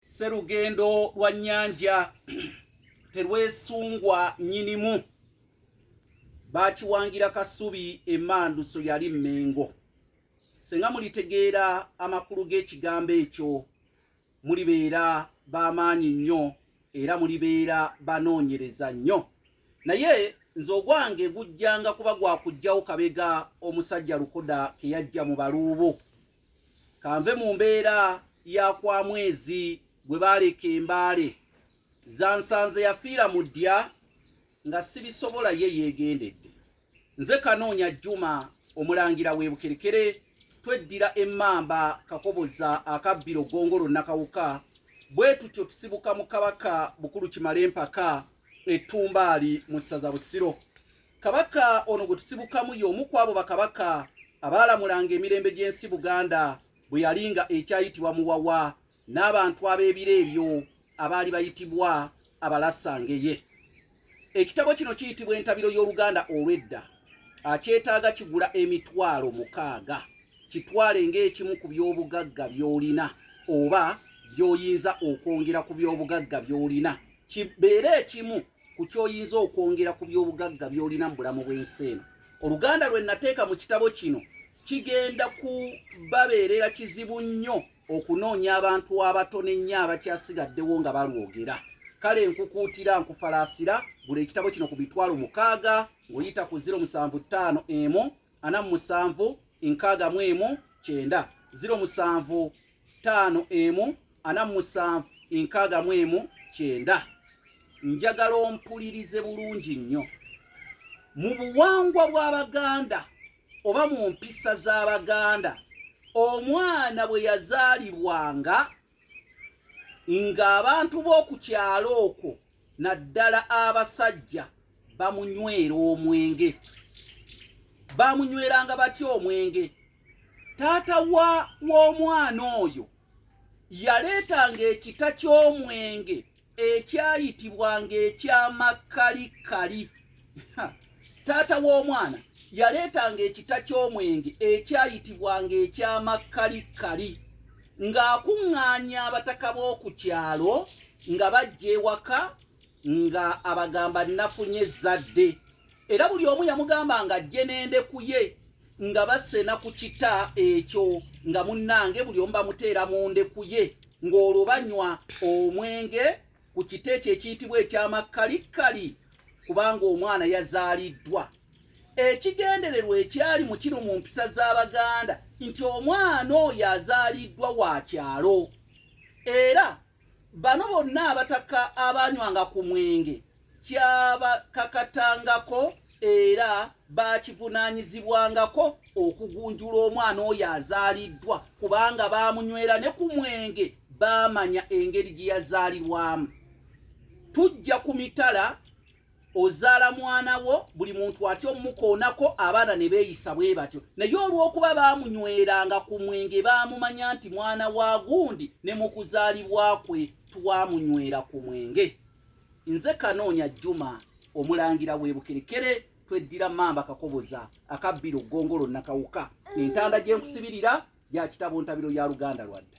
Sserugendo lwa nnyanja terwesungwa nnyinimu baakiwangira kasubi emanduso yali mmengo senga mulitegeera amakulu g'ekigambo ekyo mulibeera b'amaanyi nnyo era mulibeera banoonyereza nnyo naye nze ogwange gujjanga kuba gwa kujjawo kabega omusajja lukoda ke yajja mu baluubo kanve mu mbeera ya kwa mwezi gwe baaleka embaale zansanze yafiira mu ddya nga sibisobola ye yeegendedde nze kanoonya juma omulangira webukerekere tweddira emmamba kakoboza akabbiro gongolo nakawuka bwe tutyo tusibuka mu kabaka bukulu kimale empaka ettumbaali mu ssaza busiro Kabaka ono gwe tusibukamu y'omu ku abo bakabaka abaalamulanga emirembe gy'ensi Buganda bwe yali nga ekyayitibwa Muwawa n'abantu ab'ebiro ebyo abaali bayitibwa abalasangeye. Ekitabo kino kiyitibwa entabiro y'Oluganda olw'edda. Akyetaaga kigula emitwalo mukaaga. Kitwale ng'ekimu ku by'obugagga by'olina oba by'oyinza okwongera ku by'obugagga by'olina kibeere ekimu ku ky'oyinza okwongera ku by'obugagga by'olina mu bulamu bw'ensi eno oluganda lwe nateeka mu kitabo kino kigenda kubabeerera kizibu nnyo okunoonya abantu abato n'ennyo abakyasigaddewo nga balwogera kale nkukuutira nkufalaasira gula ekitabo kino ku mitwalo mukaaga ng'oyita ku 075 emu ana mu musanvu enkaaga mu emu kyenda 075 ttaano emu ana mu musanvu enkaaga mu emu kyenda njagala ompulirize bulungi nnyo mu buwangwa bw'abaganda oba mu mpisa z'abaganda omwana bwe yazaalibwanga ng'abantu b'oku kyalo okwo naddala abasajja bamunywera omwenge bamunyweranga batya omwenge taata wa w'omwana oyo yaleetanga ekita ky'omwenge ekyayitibwanga ekyamakkalikali taata w'omwana yaleetanga ekita ky'omwenge ekyayitibwanga ekyamakkalikali ng'akuŋŋaanya abataka b'oku kyalo nga bajja ewaka nga abagamba nafunye ezzadde era buli omu yamugamba nga ajje nende kuye nga basena ku kita ekyo nga munnange buli omu bamuteera mu ndekuye ng'olwo banywa omwenge ku kita ekyo ekiyitibwa ekyamakkalikkali kubanga omwana yazaaliddwa ekigendererwa ekyali mu kino mu mpisa z'abaganda nti omwana oyo azaaliddwa wa kyalo era Bano bonna abataka abanywanga ku mwenge kyabakakatangako era bakivunaanyizibwangako okugunjula omwana oyo azaaliddwa kubanga baamunywera ne ku mwenge baamanya engeri gye yazaalirwamu tujja ku mitala ozaala mwana wo buli muntu atya omukoonako abaana ne beeyisa bwe batyo naye olw'okuba baamunyweranga ku mwenge baamumanya nti mwana wa gundi ne mu kuzaalibwa kwe twamunywera ku mwenge nze kanoonya juma omulangira w'ebukerekere tweddira mamba kakoboza akabbira ogongolo nakawuka entanda gye nkusibirira gya kitabo ntabiro ya luganda lwadda